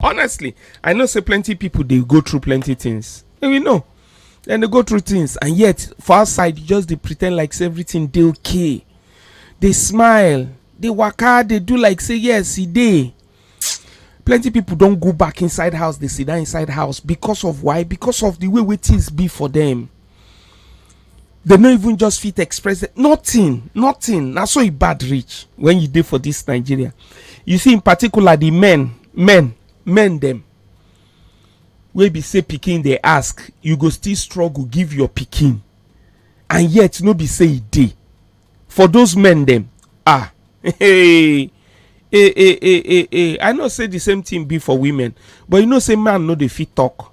honestly i know say plenty people dey go through plenty things and we know dem dey go through things and yet for outside you just dey pretend like say everything dey okay dey smile dey waka dey do like say yes e dey plenty people don go back inside house dey sit down inside house because of why because of the way wey things be for them dem no even just fit express nothing nothing na so e bad reach when you dey for this nigeria you see in particular the men men men dem wey be say pikin dey ask you go still struggle give your pikin and yet no be say e dey for those men dem ah hey hey hey hey hey i know say the same thing be for women but you know say man no dey fit talk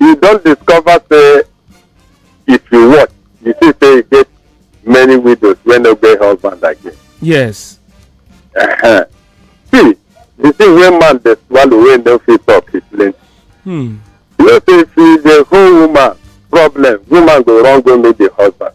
you don discover say if you watch you see say e get many widows wey no get husband again yes uh-huh. see the thing wey man dey swallow wey no fit talk is plenty hmm. you know say if you dey hold woman problem woman go run go meet the husband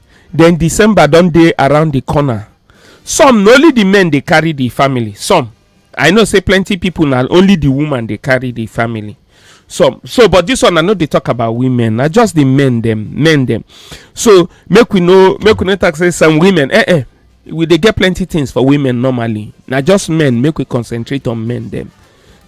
den december don dey around di corner some na only di men dey carry di family some i know say plenty pipo na only di woman dey carry di family some so but dis one i no dey talk about women na just di men dem men dem so make we no make we no talk say some women eh eh we dey get plenty things for women normally na just men make we concentrate on men dem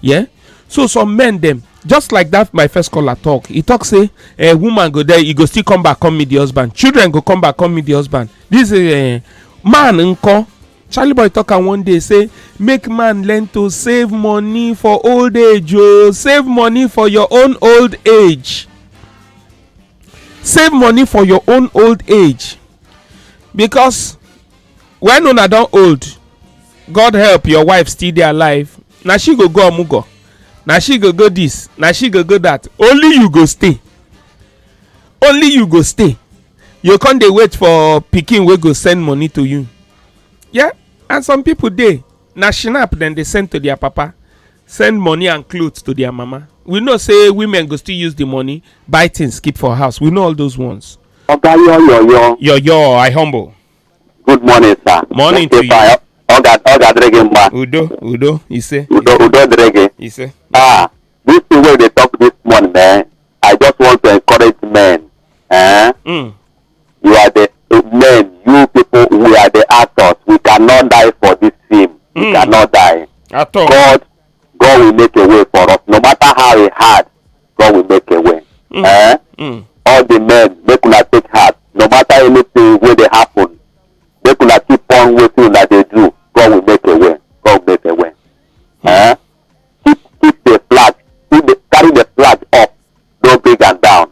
yeah so some men dem just like that my first caller talk he talk say a woman go there he go still come back come meet the husband children go come back come meet the husband this uh, man nko charlie boy talk am one day say make man learn to save money for old age o oh. save money for your own old age save money for your own old age because when una don old god help your wife still dey alive na she go go omugo na she go go this na she go go that only you go stay only you go stay you come dey wait for pikin wey go send money to you yeah and some people dey na shinap dem dey send to their papa send money and clothes to their mama we know say women go still use the money buy things keep for house we know all those ones Oga yo yo yo. yoyo i humble Good morning, sir. Morning to you. Fire. Ọ ga ọ ga-adịrị gị mma. Udo udo ise. Udo udo dịrị gị. Ise. Ah, this thing wey dey talk this morning, eh, I just want to encourage men. Eh? Mm. You are the men, you people, we are the actors. We cannot die for this film. Mm. We cannot die. At all. God, God will make a way for us, no matter how it hard. God will make a way. Mm. Eh? Mm. All the men, make una take heart. No matter anything where they happen, make una keep on waiting una dey do. God will make a way. God will make a way. Eh? Keep keep the flag. Keep the, carry the flag up. No bring am down.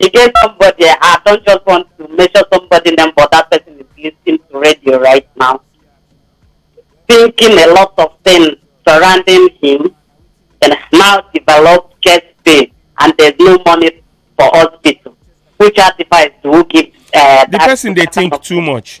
e get somebody I don just want to mention somebody name but that person is listening to radio right now thinking a lot of things surrounding him and now developed chest pain and there's no money for hospital which advice do you give uh, the that person dey kind think of- too much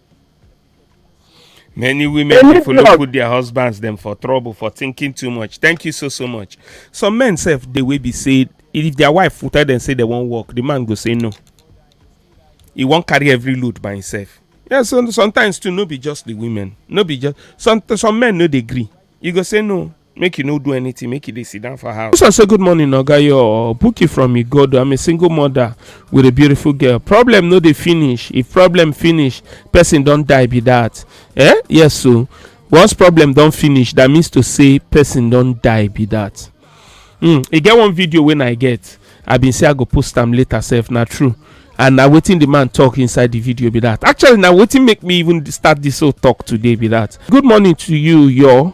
many women Any dey follow drug. put their husbands dem for trouble for thinking too much thank you so so much some men sef dey wey be say if their wife tell dem say dem wan work the man go say no he wan carry every load by himself yeah so sometimes too no be just the women no be just some some men no dey gree you go say no make you no do anything make you dey sit down for house. Musa say good morning oga your Buki from Igodo I'm a single mother with a beautiful girl problem no dey finish if problem finish person don die be that eh yes so once problem don finish that means to say person don die be that. Mm, e get one video wey I get I bin say I go post am later sef na true and na wetin the man talk inside the video be that actually na wetin make me even start this whole talk today be that good morning to you your